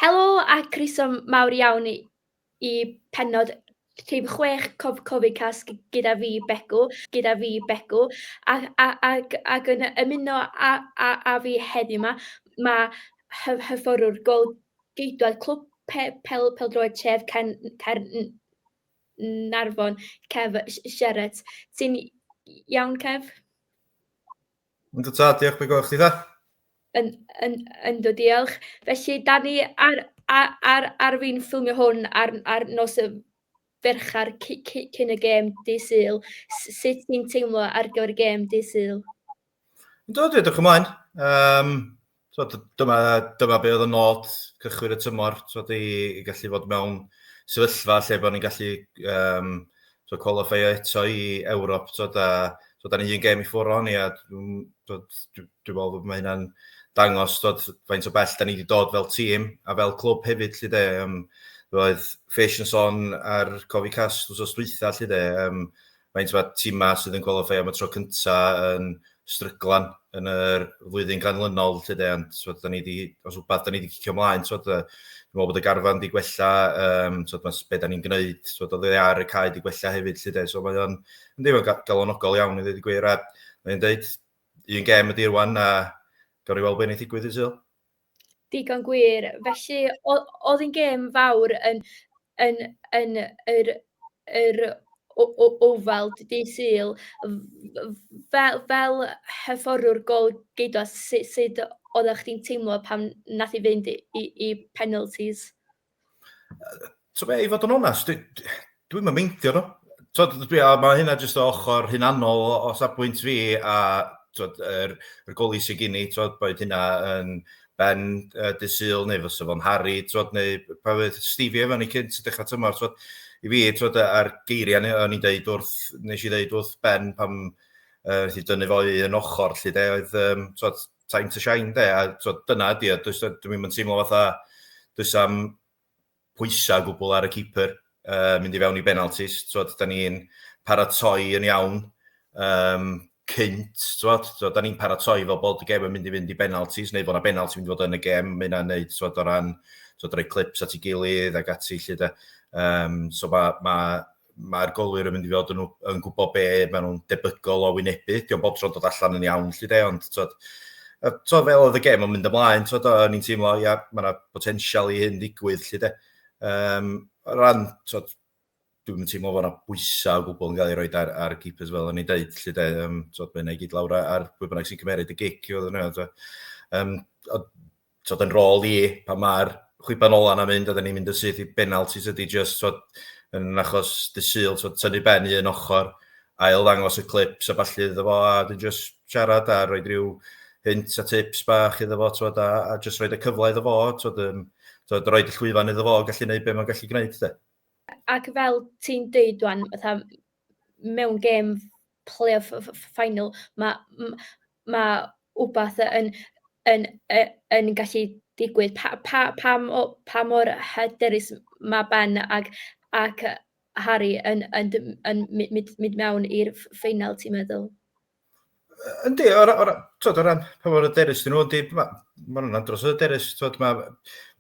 Helo a croeso mawr iawn i i pennod rhif chwech cof Covid Cast g- gyda fi Begw gyda fi Begw a a ag ag yn ymuno a a a fi heddiw 'ma ma' hyf- hyfforddwr gôl-geidwad clwb pe- pel- pêl-droed tref Caern Caern- Caernarfon, Kev Sherratt. Ti'n iawn, Kev? Yndw tad, diolch, be gwaith chdi dda? Yn, yn, yndw, diolch. Felly, da ni ar, ar, ar, ar fi'n ffilmio hwn ar, ar nos y ferchar cyn y gêm di syl. Sut ti'n teimlo ar gyfer y gêm di syl? Do, dwi edrych ymlaen. Um, so, dyma, dyma be oedd y nod cychwyn y tymor, so, di, i gallu fod mewn sefyllfa lle bod ni'n gallu um, so, qualifio eto i Ewrop. So, da, so, da ni un gem i ffwrdd o'n i, a dwi'n dwi, dwi, dwi meddwl bod mae hynna'n dangos dod, faint o bell da ni wedi dod fel tîm a fel clwb hefyd, lle de. Um, roedd Fish yn son ar cofi cas wrth os dwytha, lle de. Um, faint mae timau sydd yn qualify am y tro cynta yn stryglan yn yr flwyddyn ganlynol, lle de, ond so, da ni di, os wbeth, da ni wedi cicio ymlaen, so, dwi'n meddwl bod y garfan wedi gwella, um, so, mae beth da ni'n gwneud, so, oedd e ar y cae wedi gwella hefyd, lle de, so mae o'n deimlo galonogol iawn, i ddweud y gwir, a mae'n dweud, un gem ydy rwan, a gawn ni weld beth wneud digwydd i Sil. Digon gwir. Felly, o- oedd hi'n gêm fawr yn yn yn yr yr o- o- Oval dydd Sul. F- f- fel fel hyfforddwr gôl-geidwad, su- sut oeddach chdi'n teimlo pan wnaeth hi fynd i i penalties? So fe, i fod yn onest, dwi'n dwi yn meindio nhw. So, dwi, a mae hynna jyst o ochr hunanol o, o safbwynt fi a twod, yr, yr goli sy'n gen i, twod, boed hynna yn Ben uh, Dysul neu fysa fo'n Harry, twod, neu pa fydd Stevie efo ni cynt sy'n dechrau tymor, twod, i fi, twod, a'r geiriau ni, o'n i'n deud wrth, nes i ddeud wrth Ben pam uh, i dynnu fo i yn ochr, lle de, oedd, um, twod, time to shine de, a twod, dyna ydy o, does dim yn teimlo fatha, does am pwysau gwbl ar y keeper uh, mynd i fewn i benaltis, twod, da ni'n paratoi yn iawn, um, cynt, twod, twod, da ni'n paratoi fel bod y gem yn mynd i fynd i benaltis, neu bod yna benalti mynd i fod yn y gem, mae yna'n neud, twod, o ran, twod, rhoi clips at ei gilydd ac ati, lle da. Um, so mae ma, mae'r golwyr yn mynd i fod yn, yn gwybod be maen nhw'n debygol o wynebu. Diolch bob tro'n dod allan yn iawn, lle de, ond twod, a, twod, fel oedd y gem yn mynd ymlaen, twod, o'n i'n teimlo, ia, mae yna potensial i hyn ddigwydd, lle de. Um, ran, twod, dwi'n teimlo fod yna bwysau o gwbl yn cael ei roi ar, ar keepers fel o'n i'n deud, lle de, um, twod, mae'n ei gyd lawr ar pwy bynnag sy'n cymeryd y gic, oedd yna, um, t'od yn rôl i pan ma'r chwiban ola 'na'n mynd a 'dan ni'n mynd yn syth i benaltis ydi jyst t'od yn achos dy Sul t'od tynnu ben i un ochr, ail ddangos y clips a ballu iddo fo a wedyn jyst siarad a roid ryw hint a tips bach iddo fo t'od a a jyst roid y cyfle iddo fo t'od yym t'od roid y llwyfan iddo fo gallu neud be' ma'n gallu gneud de. Ac fel ti'n deud ŵan fatha mewn gêm playoff final, ma' m- ma' wbath yn yn yy yn gallu digwydd. Pa pa pa mo- pa mor hyderus ma' Ben ac ac yy Harry yn yn dy- yn my- myd- mynd mewn i'r ff- ffeinal ti'n meddwl? Yy yndi o ra- o ra- t'wod o ran pa mor hyderus 'dyn nhw yndi ma' ma' nhw'n andros o hyderus t'wod ma'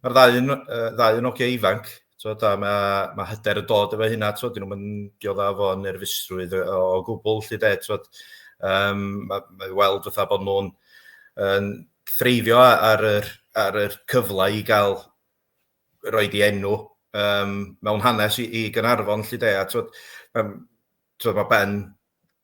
ma'r ddau yn yy ddau yn ogia ifanc Tod, a mae, mae hyder yn dod efo hynna, tod, dyn nhw'n diodda fo nerfusrwydd o, o gwbl, lle de, tod, um, mae, mae weld fatha bod nhw'n um, threifio ar yr, ar yr cyfle i gael roi di enw um, mewn hanes i, i Gynarfon, lle de, a tod, um, tod, mae Ben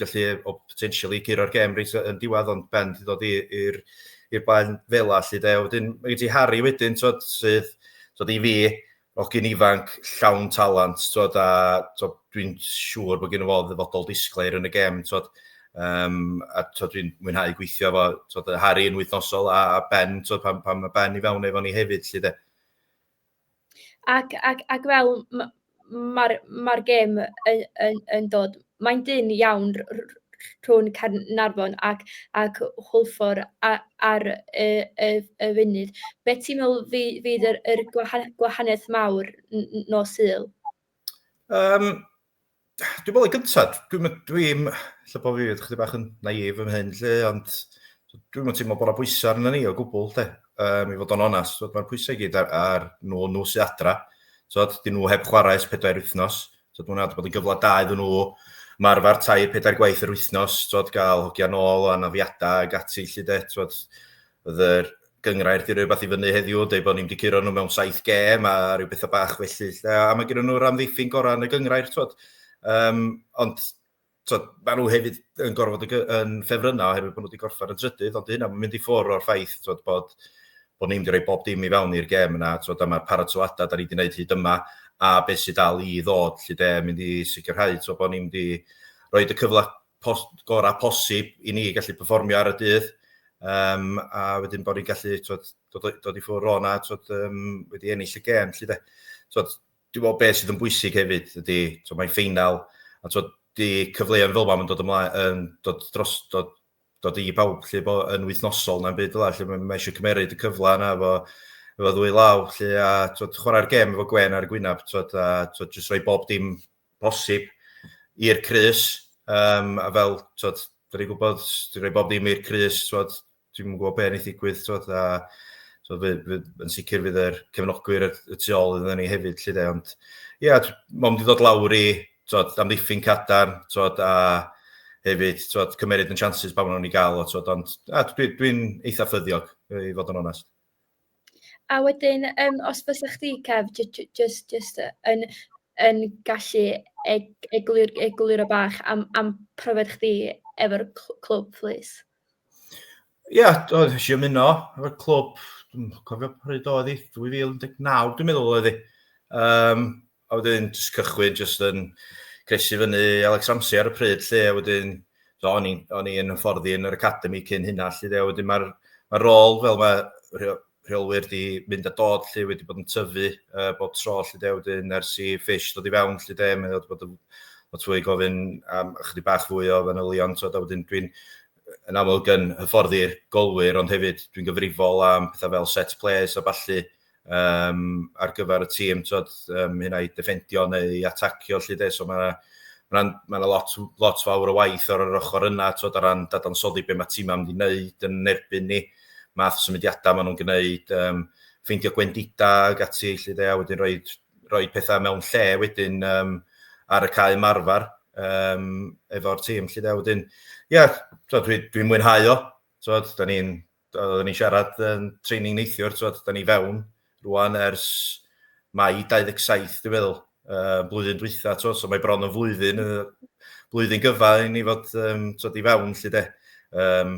gallu o potentially curo'r gêm reit yn diwedd ond Ben wedi dod i'r i'r blaen fel a lle de. Wedyn mae gen ti Harry wedyn twod sydd twod i fi hogyn ifanc llawn talent twod a twod dwi'n siŵr bod gen i fo ddyfodol disglair yn y gêm twod um, a twod dwi'n mwynhau gweithio efo twod Harry yn wythnosol a, a Ben twod pan, pan mae Ben i fewn efo ni hefyd lle de. Ac ac ac fel m- ma'r ma'r gêm yn yn yn dod, mae'n dynn iawn r- r- r- rhwng Caernarfon ac ac Hwlffordd a ar y y y funud. Be ti'n meddwl fy- fydd yr yr gwaha- gwahaniaeth mawr n- n- nos Sul? Yym. Dwi'n meddwl, yn gyntaf, dwi'n meddwl, dwi'n lle bod fi, ydych chi bach yn naif yn hyn, lle, ond dwi'n meddwl ti'n meddwl bod yna bwysau arnyn ni o gwbl, lle, um, i fod o'n onas, so, mae'r pwysau gyd ar, ar nhw, nhw sy'n adra, so, dyn nhw heb chwarae ys pedair wythnos, so, dwi'n meddwl bod yn gyfle da iddyn nhw, mae'r arfer tair pedair gwaith yr wythnos, so, gael hogiau nôl o anafiadau ag ati, lle, de, so, Oedd yr gyngrair di rhywbeth i fyny heddiw, dweud bod ni'n wedi curo nhw mewn saith gem a rhyw bethau bach felly. A mae gen nhw'r amddiffyn gorau yn y gyngrair, twod. Um, ond twod, mae nhw hefyd yn gorfod yn ffefrynnau oherwydd bod nhw wedi gorffen yn trydydd, ond hynna mae'n mynd i ffwrdd o'r ffaith twod, bod, bod ni'n wedi bob dim i fewn i'r gem yna, twod, a mae'r paratoadau da ni wedi gwneud hyd yma, a beth sydd dal i ddod, lle de, mynd i sicrhau twod, bod ni'n mynd i roi y cyfle pos, gorau posib i ni gallu performio ar y dydd. Um, a wedyn bod ni'n gallu twod, dod, dod i ffwrdd o'na twod, um, wedi ennill y gem. Lly, de. Twod, dwi'n meddwl beth sydd yn bwysig hefyd ydy, twod, mae'n ffeinal, a twod, di cyfleoedd fel mae'n dod ymlaen, yn dod dros, dod, dod i bawb lle bo, yn wythnosol na'n byd fel lle mae eisiau cymeryd y cyfle yna efo, efo ddwy law lle a twod, chwarae'r gem efo Gwen ar y gwynaf twod, a twod, jyst rhoi bob dim posib i'r crys, um, a fel, twod, dyn ni'n gwybod, dwi'n rhoi bob dim i'r crys, twod, dwi'n mwyn gwybod beth yn ei ddigwydd, twod, a so, fy, fy, yn sicr fydd yr cefnogwyr y tu ôl iddyn ni hefyd, lle de, ond, ie, yeah, mae'n mynd i ddod lawr i, twod, am ddiffyn cadarn, twod, a hefyd, twod, cymeryd yn chances pa maen nhw'n ei gael o, twod, ond, a dwi'n dwi eitha ffyddiog, i fod yn onest. A wedyn yym os bysa chdi Kev, j- j- jyst jyst yy yn yn gallu eg- eglur- egluro bach am am profiad chdi efo'r cl- clwb plîs? Ia, do, wnes i ymuno efo'r clwb, dwi'n cofio pryd oedd hi, 2019 dwi'n meddwl oedd hi. Um, a wedyn jyst cychwyn jyst yn cresu fyny Alex Ramsey ar y pryd lle, a wedyn so, o'n i'n o'n i yn hyfforddi yn yr academi cyn hynna lle, a wedyn mae'r ma rôl fel mae rheolwyr di mynd a dod lle wedi bod yn tyfu uh, bob tro lle de wedyn ers i ffish dod i fewn lle de mae wedi bod yn lot fwy gofyn am ychydig bach fwy o fanylion so da wedyn dwi'n yn amlwg yn hyfforddi'r golwyr ond hefyd dwi'n gyfrifol am pethau fel set plays a balli um, ar gyfer y tîm, tod, um, hynna i defendio neu i atacio, lle de, so mae yna ma lot, lot fawr o waith ar yr ochr yna, tod, ar ran dadansoddi beth mae tîm am wedi wneud yn erbyn ni, math o symudiadau maen nhw'n gwneud, um, ffeindio gwendida ag ati, lle de, a wedyn rhoi, rhoi pethau mewn lle wedyn um, ar y cae marfer um, efo'r tîm, lle de, wedyn, ia, yeah, dwi'n dwi mwynhau o, tod, da ni'n Oedden ni'n siarad yn training neithiwr, ti'n da ni fewn rwan ers mai 27, dwi'n meddwl, uh, blwyddyn dwytha, ti'n so mae bron yn flwyddyn, blwyddyn gyfa i ni fod um, ti'n i fewn, lle de. Um,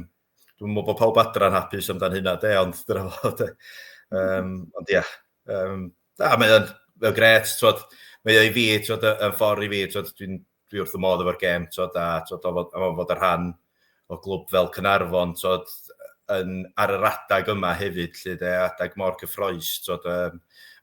dwi'n meddwl bod pawb adran hapus amdan hynna, de, ond dyna fo, de. Um, ond ia, yeah, um, da, mae'n gret, ti'n mae o i fi, ti'n y ffordd i fi, ti'n dwi'n dwi wrth y modd efo'r gem, tod, a tod, o fod, o fod y rhan o glwb fel Cynarfon, tod, yn, ar yr adag yma hefyd, lle de, adag mor cyffroes, tod, um,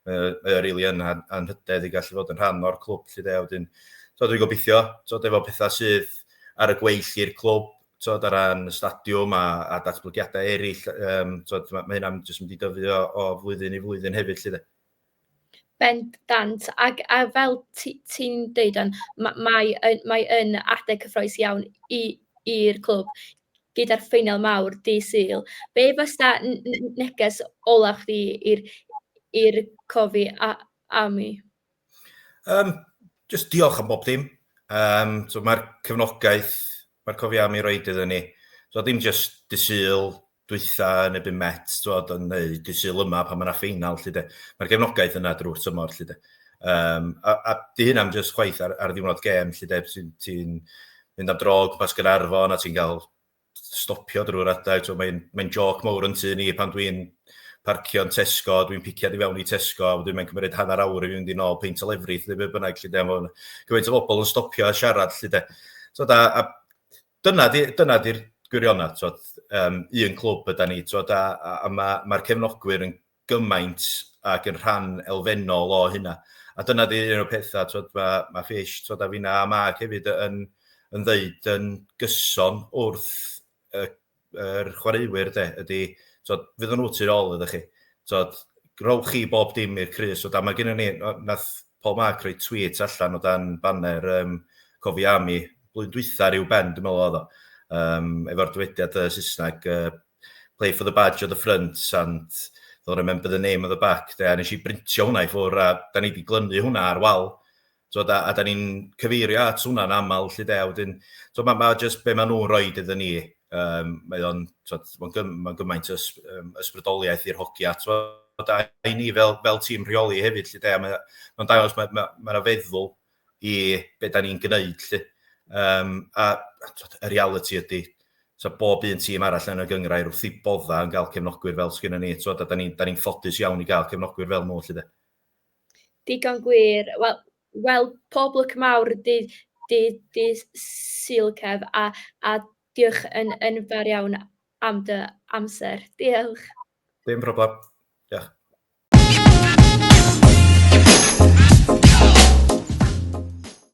mae o, mae o really yn anhydedd i gallu fod yn rhan o'r clwb, lle de, wedyn, tod, dwi'n gobeithio, tod, efo pethau sydd ar y gweill i'r clwb, tod, ar ran y stadiwm a, a datblygiadau eraill, um, tod, mae, mae hynna'n jyst mynd i dyfu o, o flwyddyn i flwyddyn hefyd, lle de. Bendant, ac a fel ti ti'n deud o'n ma' mae yn mae yn adeg cyffrous iawn i i'r clwb gyda'r ffeinal mawr dydd Sul. Be fysa n- n- neges olaf chdi i'r i'r cofi a- am 'ny? Yym jyst diolch am bob dim. Yym so mae'r cefnogaeth mae'r cofi am ei roid iddyn ni. So dim jyst dydd Sul, dwytha yn ebyn Met t'wod yn neu dy Sul yma pan ma' 'na ffeinal 'lly 'de. Ma'r gefnogaeth yna drwy'r tymor 'lly 'de. Yym a a 'di hynna'n jyst chwaith ar ar ddiwrnod gêm 'lly 'de ti'n ti'n mynd am dro o gwmpas Gaernarfon a ti'n ga'l stopio drwy'r adeg t'mo' mae'n mae'n jôc mowr yn tŷ ni pan dwi'n parcio'n Tesco dwi'n piciad i fewn i Tesco a wedyn mae'n cymryd hanner awr i fynd i nôl peint o lefrith neu be' bynnag 'lly 'de ma' 'wn gymaint o bobol yn stopio a siarad 'lly 'de. T'od a a Dyna 'di dyna 'di'r gwirionedd t'wod yym un clwb ydan ni t'wod a a a ma' ma'r cefnogwyr yn gymaint ac yn rhan elfennol o hynna. A dyna 'di un o'r petha t'wod ma' ma' Fish t'wod a finna' a Mark hefyd yn yn ddeud yn gyson wrth y yr chwaraewyr de ydy t'od fyddan nhw tu ôl iddo chi. T'od rhowch chi bob dim i'r crys o dan mae gennym ni nath Paul Mark roi tweet allan o dan banner um, cofi am i blwyddyn dwytha rhyw ben dwi'n meddwl oedd o um, efo'r dywediad uh, Saesneg uh, play for the badge of the front and they'll remember the name of the back de, a nes i brintio hwnna i ffwr a da ni wedi glynu hwnna ar wal So, da, a da ni'n cyfeirio at hwnna'n aml, lle de, wedyn, so, mae ma jyst be maen nhw'n rhoi iddyn ni, um, mae o'n ma gymaint ys, um, ysbrydoliaeth i'r hogia, so, da, i ni fel, fel tîm rheoli hefyd, lle de, mae'n ma dangos, mae'n ma, ma, ma feddwl i be da ni'n gwneud, lle. Um, a y reality ydy, so bob un tîm arall yn y gyngrair wrth i bodda yn cael cefnogwyr fel sgynna ni, so, da, da ni'n ni, ni ffodus iawn i gael cefnogwyr fel nhw, lle de. Digon gwir. Wel wel pob lwc mawr dydd dydd dydd Sul Kev, a a diolch yn yn fawr iawn am dy amser. Diolch. Dim problem. Diolch.